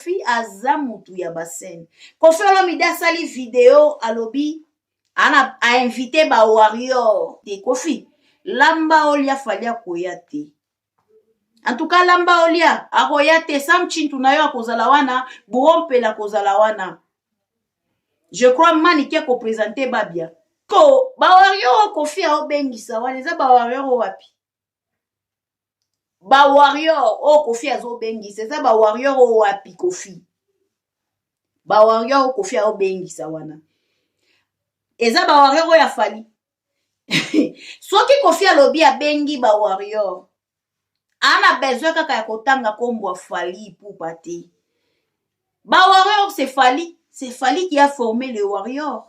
kofi aza mutu ya basene kofi olomide asali video alobi ana ainvite ba warrior te kofi lamba olia fali akoya te antuka lamba olia akoya te sam chintu na yo akozala wana burompela akozala wana je crois manike akopresente babia ko bawarior oyo kofi aobengisa wana eza bawarior oyo wapi ba warrior oyo oh, kofi azobengisa eza ba warrior oyo oh, wapi kofi ba warrior oyo oh, kofi aobengisa wana eza ba warrior oyo ya fali soki kofi alobi abengi ba warrior ana besoin kaka ya kotanga nkombo ya fali ipupa te ba warrior se fali se fali qui a formé le warrior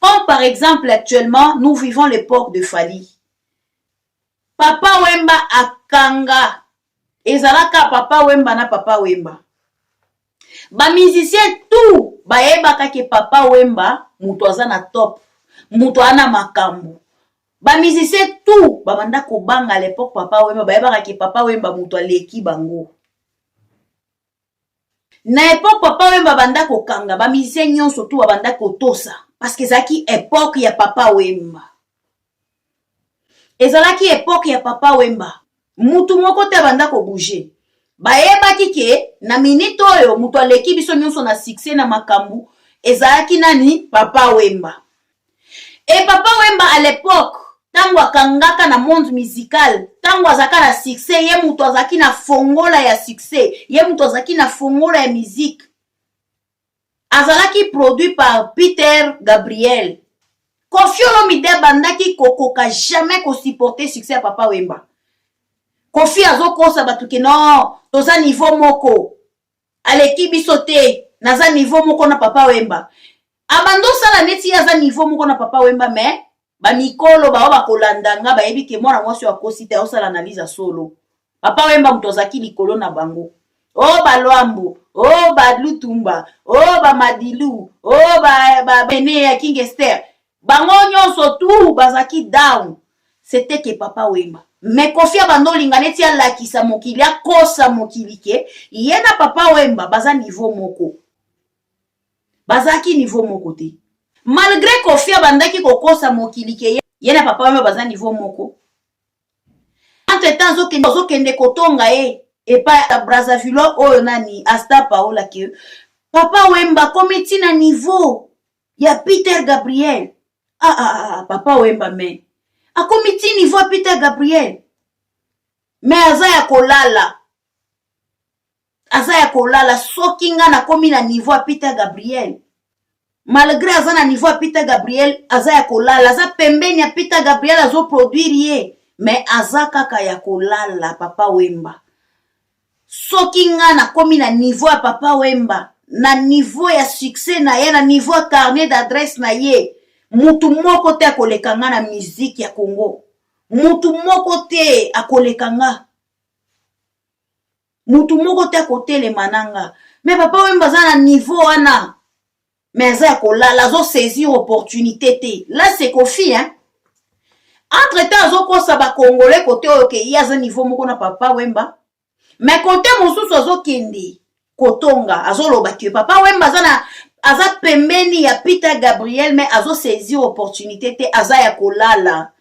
Comme par exemple actuellement nous vivons l'époque de Fally. Papa Wemba akanga ezalaka Papa Wemba na Papa Wemba. Ba musiciens tout bayebaka ke Papa Wemba moto aza na top, moto ana makambo. Ba musiciens tout babanda kobanga à l'époque Papa Wemba bayebaka ke Papa Wemba moto aleki bango. na epoque papa wemba abanda kokanga bamusicien nyonso tu babanda kotosa parce que ezalaki epoque ya papa wemba ezalaki epoque ya papa wemba mutu moko te abanda kobouge bayebaki ke na minute oyo moto aleki biso nyonso na succès na makambo ezalaki nani papa wemba Et papa Wemba à l'époque ntango akangaka na monde musical ntango azalaka na succès ye moto azalaki na fongola ya succès ye moto azalaki na fongola ya musique azalaki produit par peter gabriel kofi olomide abandaki kokoka jamais kosupporte succès ya papa wemba kofi azokosa bato ke no toza niveau moko aleki biso te naza niveau moko na papa wemba abanda osala neti ye aza niveau moko na papa wemba mais bamikolo bao bakolanda nga bayebi ke mwana mwasi oyo akosi te aosala analyse ya solo papa wemba moto azalaki likolo na bango o oh, balwambo o oh, balutumba o oh, bamadilu o babene ya king ester bango nyonso tout bazalaki down sete ke papa wemba me kofi abanda olinga neti alakisa mokili akosa mokili ke ye na papa wemba baza nivo moko bazalaki nivo moko te malgre kofi abandaki kokosa mokili ke ye na papa wemba baza nivo moko entre temps ozokende kotonga ye epai ya brazavillois oyo nani asta paola ke papa wemba komi ntina nivo ya peter gabriel ah, ah, ah, ah papa wemba me akomi ti niveau ya peter gabriel me aza ya kolala aza ya kolala soki nga nakomi na niveau ya peter gabriel malgré aza na niveau ya peter gabriel aza ya kolala aza pembeni ya peter gabriel azoproduire ye me aza kaka ya kolala papa wemba soki nga nakomi na niveau ya papa wemba na niveau ya succès na ye na niveau ya carnet d'adresse na ye mutu moko te akoleka nga na musique ya congo mutu moko te akoleka nga mutu moko te akotelema na nga me papa wemba aza na niveau wana mais aza ya kolala azo saisir opportunité te la c'est kofi hein entre temps azokosa bacongolais kote oyo ke ye aza niveau moko na papa wemba mais kote mosusu azokende kotonga azoloba ke papa wemba aza na aza pembeni ya peter gabriel mais azosaisir opportunité te aza ya kolala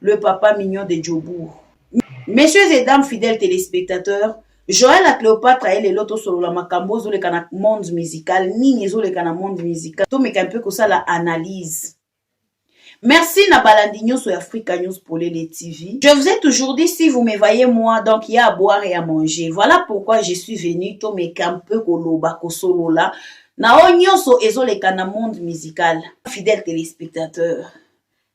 le papa mignon de Djobourg. Messieurs et dames fidèles téléspectateurs, Joël à Cléopâtre aye lelo tosolola makambo ezoleka na monde musical nini ezoleka na monde musical tomeka mpe kosala analyse Merci na balandi nyonso ya Africa News Polele TV. Je vous ai toujours dit si vous me voyez moi donc il y a à boire et à manger. Voilà pourquoi je suis venu to me un peu koloba kosolola na o nyonso ezoleka na monde musical. Fidèle téléspectateur,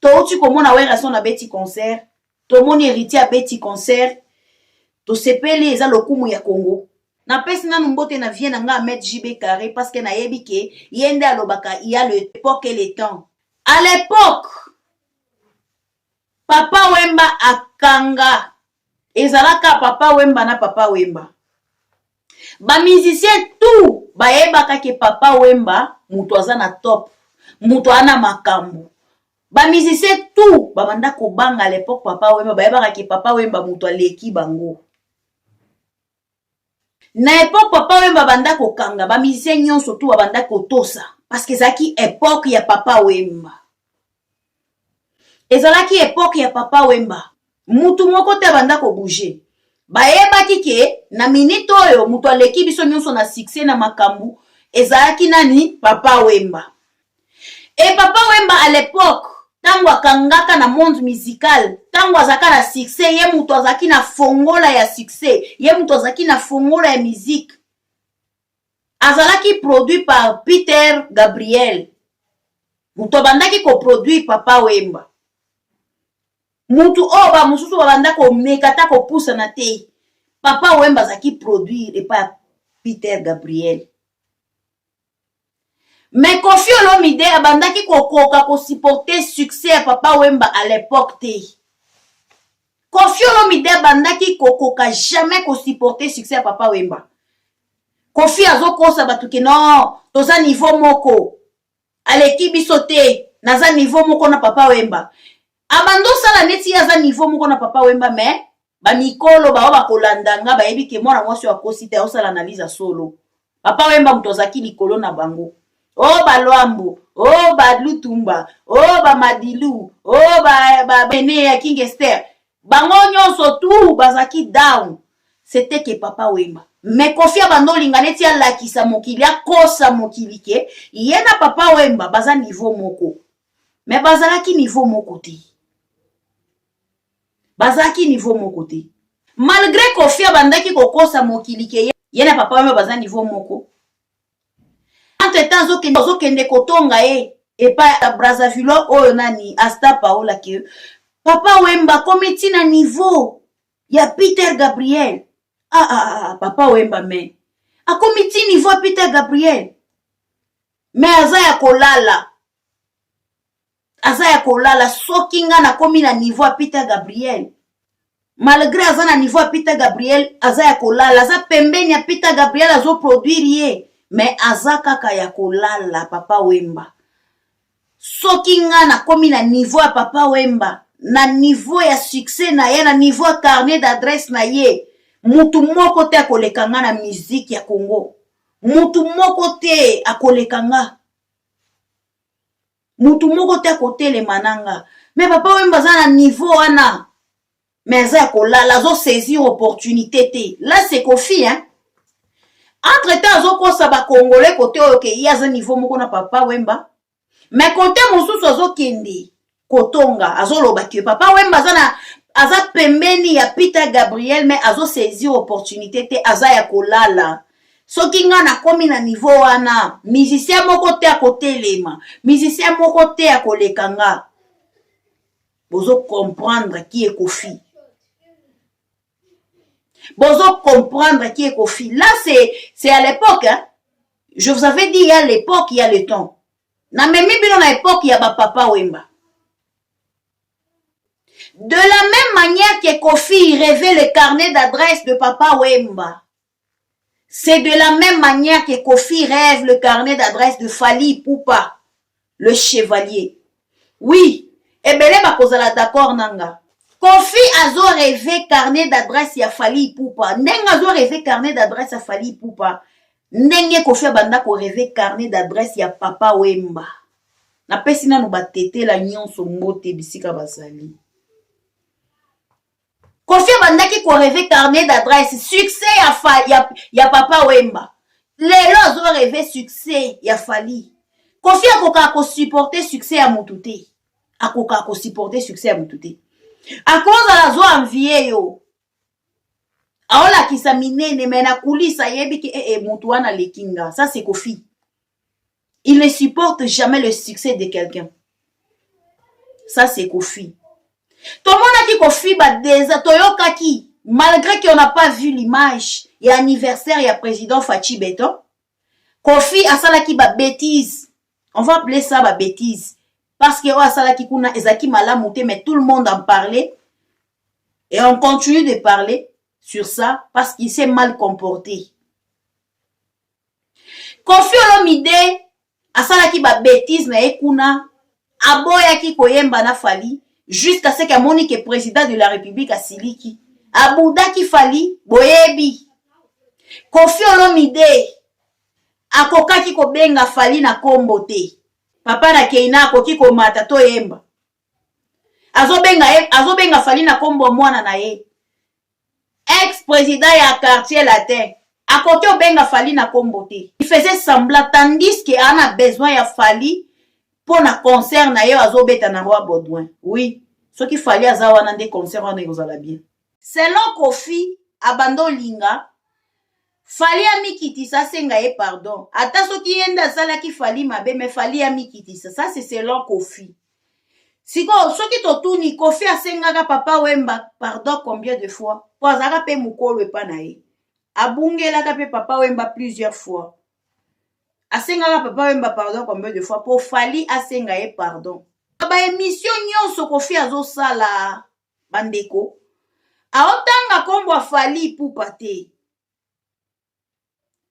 touti komona werrason abeti concert tomoni heritier abeti concert tosepeli eza lokumu ya congo napesi nanu mbote na vie na nga amed jb carre parce que nayebi ke ye nde alobaka ya le epoque et le temps à l'époque papa wemba akanga ezalaka papa wemba na papa wemba ba musicien tout bayebaka ke papa wemba moto aza na top moto aza na makambo ba musicien tout babanda kobanga à l'époque papa wemba bayebaka ke papa wemba moto aleki bango na epoke papa wemba banda kokanga bamusicien nyonso tu babanda kotosa parceke ezalaki epoke ya papa wemba ezalaki epoke ya papa wemba mutu moko te abanda kobouge bayebaki ke na minite oyo moto aleki biso nyonso na succès na makambo ezalaki nani papa wemba e papa wemba à l'époque ntango akangaka na monde musical ntango azalaka na succès ye moto azalaki na fongola ya succès ye moto azalaki na fongola ya musique azalaki produit par peter gabriel moto abandaki koproduire papa wemba motu oyo bamosusu babanda komeka ata kopusana te papa wemba azalaki produire epai ya peter gabriel me kofi olomide abandaki kokoka kosupporte succès ya papa wemba à l'époque te kofi olomide abandaki kokoka jamais kosupporte succès ya papa wemba kofi azokosa bato ke no toza niveau moko aleki biso te naza niveau moko na papa wemba abanda osala neti ye aza niveau moko na papa wemba mais bamikolo baoyo bakolanda nga bayebi ke mwana mwasi oyo akosi te aosala analyse ya solo papa wemba moto azalaki likolo na bango o oh, balwambo o oh, balutumba o oh, bamadilu o bene ya king ester bango nyonso tout bazalaki down sete ke papa wemba me kofi abanda olinga neti alakisa mokili akosa mokili ke ye na papa wemba baza nivo moko me bazalaki nivo moko te bazalaki nivo moko te malgre kofi abandaki kokosa mokili ke ye na papa wemba baza nivo moko entre temps azokende azokende kotonga ye epai ya brazzaville oyo nani asta paola ke papa wemba akomi ti na niveau ya peter gabriel ah, ah, ah, ah papa wemba me akomi ti niveau ya peter gabriel me aza ya kolala aza ya kolala soki nga nakomi na niveau ya peter gabriel malgré aza na niveau ya peter gabriel aza ya kolala aza pembeni ya peter gabriel azoproduire ye me aza kaka ya kolala papa wemba soki nga nakomi na niveau ya papa wemba na niveau ya succès na ye na niveau ya carnet d'adresse na ye mutu moko te akoleka nga na miziki ya congo mutu moko te akoleka nga mutu moko te akotelema na nga me papa wemba aza na niveau wana me aza ya kolala azosaisir opportunité te la sekofi hein entre temps azokosa bakongole kote oyo ke ye aza niveau moko na papa wemba me kote mosusu azokende kotonga azoloba ke papa wemba aza na aza pembeni ya peter gabriel me azosaisir opportunité te aza ya kolala soki ngai nakomi na nivo wana musicien moko te akotelema musicien moko te akoleka nga bozo comprendre ki ekofi bozo comprendre ki ekofi là c'est c'est à l'époque hein? je vous avais dit ya l'époque ya le temps namemi bino na époque ya bapapa wemba de la même manière que kofi revait le carnet d'adresse de papa wemba C'est de la même manière que Kofi rêve le carnet d'adresse de Fali Poupa, le chevalier. Oui, ebele bakozala d'accord na nga. Kofi azo rêve carnet d'adresse ya Fali Poupa. Ndenge azo rêve carnet d'adresse ya Fali Poupa, ndenge Kofi abanda ko rêve carnet d'adresse ya Papa Wemba. Napesi nanu batetela nyonso mbote bisika bazali. kofi abandaki koreve carnet d'adresse succès ya, fa, ya, ya papa wemba lelo azoreve succès ya fali kofi akokaka kosupporte succès ya motu te akokaka kosupporte succès ya motu te akozala zo envie yo aolakisa minene me na kulisa ayebi ke ee eh, eh, motu wana aleki nga sa se kofi il ne supporte jamais le succès de quelqu'un ça c'est kofi tomonaki kofi badesa toyokaki malgré qu'on n'a pas vu l'image ya anniversaire ya président faci beton kofi asalaki babétise on va appeler ça babétise parce que oyo asalaki kuna ezalaki malamu te mais tout le monde en parlait et on continue de parler sur ça parce qu'il s'est mal comporté kofi olomide asalaki babetise na ye kuna aboyaki koyemba na fali jusqu'à ce que amoni ke président de la république asiliki abudaki fali boyebi kofi olomide akokaki kobenga fali na kombo te papa na keina akoki komata toyemba azobenga ye azobenga fali na nkombo ya mwana na ye ex président ya quartier latin akoki obenga fali na nkombo te il faisait semblant tandis que ana besoin ya fali mpo na concert na ye azobeta na roi baudouin oui soki fali aza wana nde concert wana ekozala bien Selon Koffi abanda olinga Fally amikitisa asenga ye pardon ata soki ye nde asalaki Fally mabe mais Fally amikitisa ça c'est selon Koffi sikoyo soki totuni Koffi asengaka papa Wemba pardon combien de fois po azalaka mpe mokolo epa na ye abungelaka mpe papa Wemba plusieurs fois asengaka papa Wemba pardon combien de fois po Fally asenga ye pardon ba emission nyonso Koffi azosala bandeko aotanga nkombo ya fali ipupa te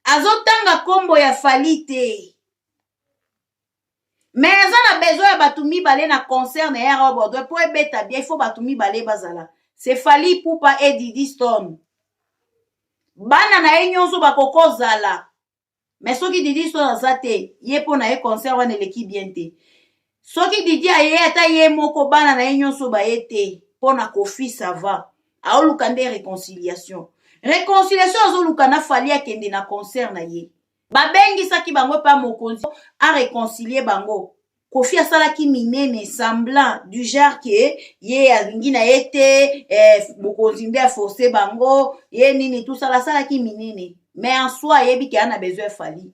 azotanga nkombo ya fali te me aza na besoin ya bato mibale na concert na yara bordoi mpo ebeta bien ifo bato mibale bazala se fali ipupa edidi stone bana na ye nyonso bakokozala mais soki didi histoire aza te ye mpo na ye concert wana eleki bien te soki didi aye ata ye moko bana na ye nyonso baye te mpo na kofi sava aoluka nde reconciliation reconciliation azoluka na fali akende na concert na ye babengisaki bango epa mokonzi areconcilie bango kofi asalaki minene semblant du genre ke ye alingi na ye te eh, bokonzi nde aforce bango ye nini tosala asalaki minene mais en soi ayebi ke ana besoin efali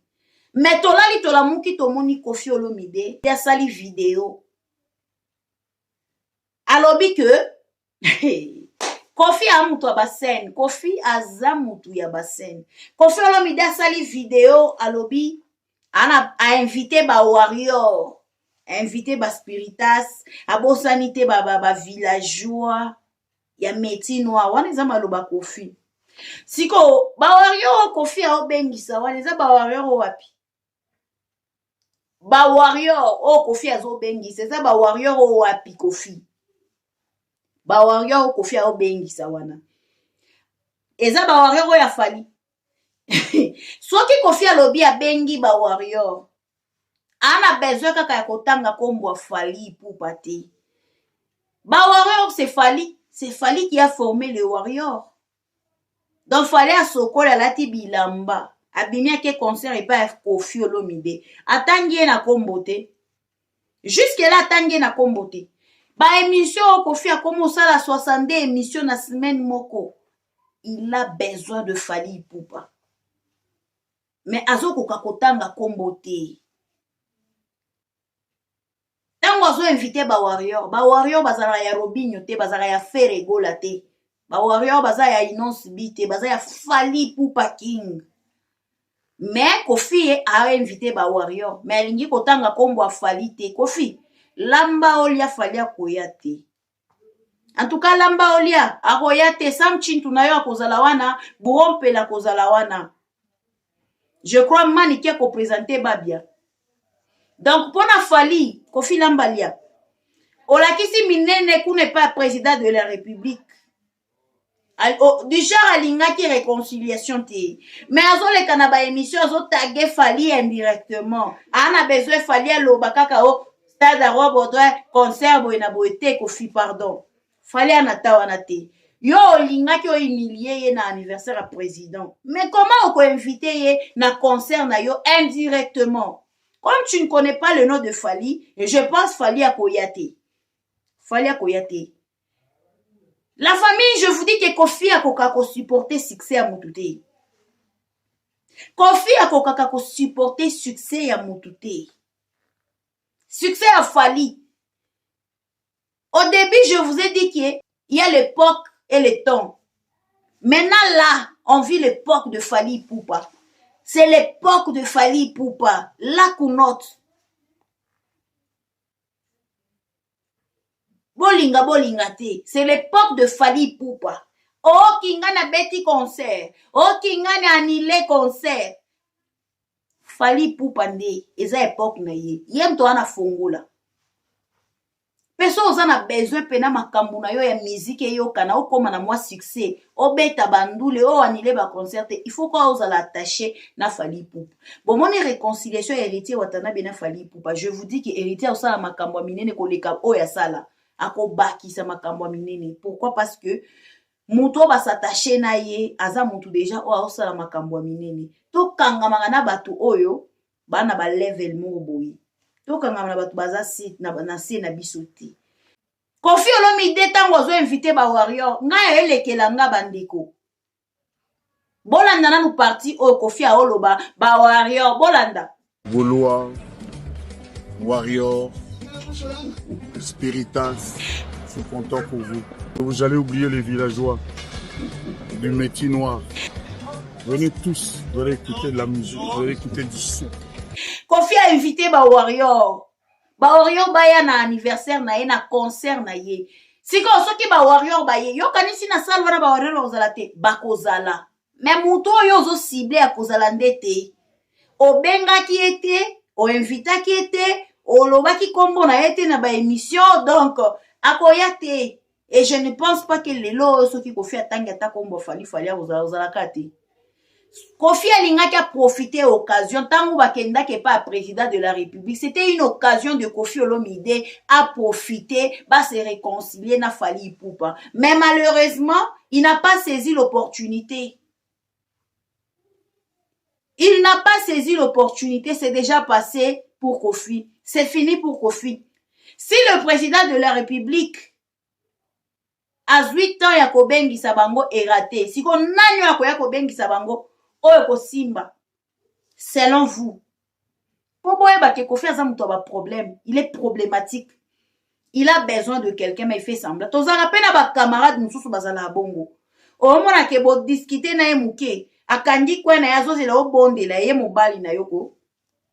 mais tolali tolamuki tomoni kofi olomide te asali video alobi ke kofi a moto ya basene kofi aza moto ya basene kofi olomide asali video alobi ana ainvite ba warrior ainvite ba spiritas abosani te ba, ba, ba villageois ya métier noir wana eza maloba kofi sikoyo bawario oyo kofi aobengisa wana eza bawario oyo wapi ba warrior oyo kofi azobengisa eza ba warrior oyo wapi kofi ba warrior oyo kofi azobengisa wana eza ba warrior oyo ya fali soki kofi alobi abengi ba warrior ana besoin kaka ya kotanga nkombo ya fali ipupa te ba warrior se fali se fali qui a formé le warrior donc fale asokoli alati bilamba abimi ake concert epai ya kofi olomide atangi ye na kombo te juske la atangi ye na kombo te baémission oyo kofi akomi osala 62 émission na semaine moko il a besoin de fali ipupa me azokoka kotanga kombo te ntango azo invite ba warrior ba warrior bazalaka ya robinho te bazalaka ya fere egola te ba warrior baza ya inonce bi te baza ya fali pupa king mais kofi ye ainvite ba warrior mais alingi kotanga nkombo afali te kofi lamba olia fali akoya te antuka lamba olia akoya te sam chintu na yo akozala wana brompel akozala wana je crois manike akopresente babia donc mpo na fali kofi lamba lia olakisi minene kuna epa president de la république Oh, du genre alingaki réconciliation te mais azoleka na baémission azotage fali indirectement aa na besoin fali aloba kaka o stade arobodre concert boye na boye te kofi pardon fali anata wana te yo olingaki ohumilie ye na anniversaire ya président mais comment okoinvite ye na concert na yo indirectement comme tu ne connais pas le nom de fali je pense fali akoya te fali akoya te La famille, je vous dis que Kofi akoka ko supporter succès ya mutu te. Kofi akokaka ko supporter succès ya mutu te. Succès ya Fally. Au début, je vous ai dit que il y a l'époque et le temps. Maintenant là, on vit l'époque de Fally Poupa. C'est l'époque de Fally Poupa. La counote. bolinga bolinga te c'est l'époque de fali ipupa oki nga na beti concert oki nga na anile concert fali ipupa nde eza epoke na ye ye moto wana fongola mpe so oza na besoin mpe na makambo na yo ya miziki eyokana okóma na mwa succès obeta bandule o anile baconcert te il faut kaka ozala attaché na fali ipupa bomoni réconciliation ya héritier watanabe na fali ipupa je vous dis que héritier akosala makambo ya minene koleka oyo asala akobakisa makambo ya minene pourquoi parce que moto oyo basatache na ye aza moto deja oyo akosala makambo ya minene tokangamaka na bato oyo baa na balevel moko boye tokangamaka na bato baza na se na biso te kofi olomide ntango azo invite ba warrior ngai aelekela nga bandeko bolanda nanu parti oyo kofi aoloba ba warrior bolanda golois warrior spiritas je suis content pour vous vous allez oublier les villageois du métier noir venez tous vous allez écouter de la musique vous allez écouter du son kofi a invité ba warrior ba orion baya na anniversaire na ye na concert na ye sikoyo soki ba warrior baye yokanisi na sale wana ba warrior bakozala te bakozala me moto oyo ozo cible ya kozala nde te obengaki ye te oinvitaki ye te olobaki nkombo na ye te na baemission donc akoya te et je ne pense pas que lelo oyo soki kofi atangi ata kombo fali fali akozala ozalaka te kofi alingaki aprofite occasion ntango bakendaki epai ya président de la république c'était une occasion de kofi olomide aprofite base réconcilie na fali ipupa mais malheureusement il n'a pas saisi l'opportunité il n'a pas saisi l'opportunité c'est déjà passé pour kofi c'est fini pour kofi si le président de la république azwi temps ya kobengisa bango erate siko nani oyo akoya kobengisa bango oyo ekosimba selon vous mpo boyeba ke kofi aza moto ya baproblème il est problématique il a besoin de quelqu'un mais il fait semblant tozalaka mpe na bacamarade mosusu bazalaka bongo omona ke bodiscute na ye moke akangi kwe na ye azozela obondela ye mobali na yo ko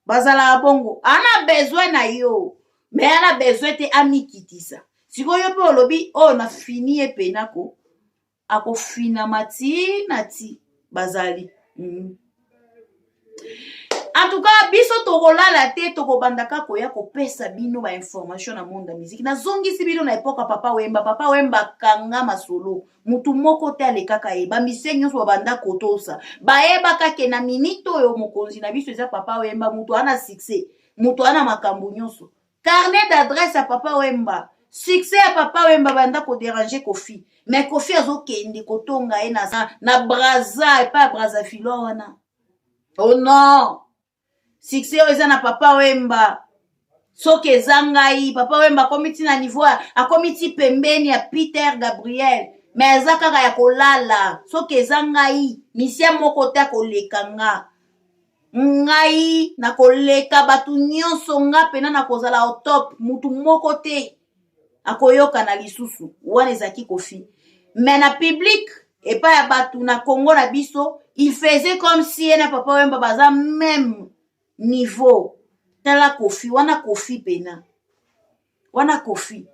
bazalaka bongo ana besoin na yo me ana besoin te amikitisa sikoyo yo mpe olobi oyo oh, na fini ye mpenako akofinama tii na tii bazali mm. en tout cas biso tokolala te tokobanda kaka koya kopesa bino bainformation na monde ya miziki nazongisi bino na epoka papa wemba papa wemba akanga masolo motu moko te alekaka ye bamisie nyonso babanda kotosa bayebaka ke na minite oyo mokonzi na biso eza papa wemba motu ana succès motu ana makambo nyonso carnet d'adresse ya papa wemba succès ya papa wemba banda koderange kofi mais kofi azokende kotonga ye na, na braza epai ya brazavilo wana o oh non succès oyo eza na papa wemba soki eza ngai papa wemba akomi ti na niveau akomi ti pembeni ya peter gabriel me aza kaka ya kolala soki eza ngai misien moko te akoleka nga ngai nakoleka bato nyonso nga mpena nakozala au top motu moko te akoyokana lisusu wana ezalaki kofi me na publike epai ya bato na congo na biso il faisait comme si ye na papa wemba baza meme niveau tala kofi wana kofi mpena wana kofi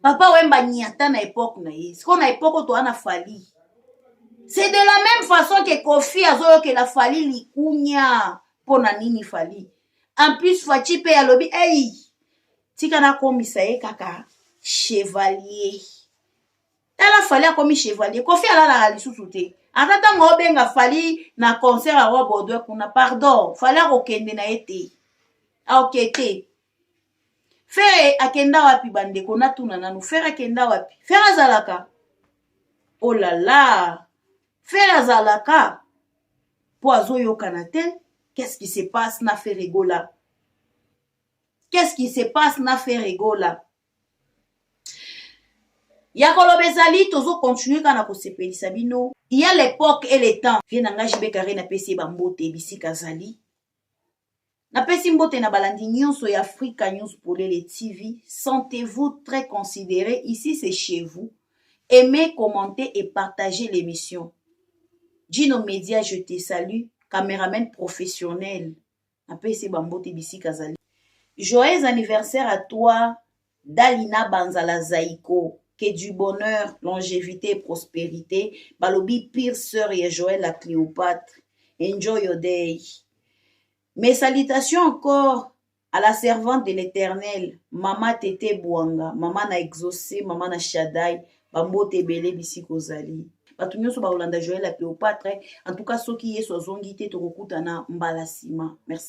papa wemba niata na epoke na ye sikoyo na epoke oyo toa na fali c'est de la même façon ke kofi azoyokela fali likunya mpo na nini fali en plus faci mpe alobi ei tika nakomisa ye kaka chevalier tala fali akomi chevalier kofi alalaka lisusu te ata ntango obenga fali na concert ya roi baudouin kuna pardon fali akokende na ye te aoke te fere akenda wapi bandeko natuna nanu fere akenda wapi fere azalaka olala oh fere azalaka mpo azoyokana te qu'est-ce qui se passe na fere gola qu'est-ce qui se passe na fere gola ya koloba ezali tozo continue kaka na kosepelisa bino ya lepoque et le temps vie na ngai jibe kare napesi ye bambote bisika azali napesi mbote na balandi nyonso ya afrika news polele tv sentez-vous très considéré ici c'est chez vous aimez commentez et partagez l'émission Gino Media je te salue cameraman professionnel napesi ye bambote bisika azali joyeux anniversaire à toi dalina banzala zaiko que du bonheur longévité et prospérité balobi pire sœur ya joël la cléopâtre enjoy your day mes salutations encore à la servante de l'éternel mama tete bwanga mama na exaucé mama na shadai bambote ebele bisika ozali bato nyonso bakolanda joel ya cleopatre en tout cas soki yesu azongi te tokokutana mbala nsima merci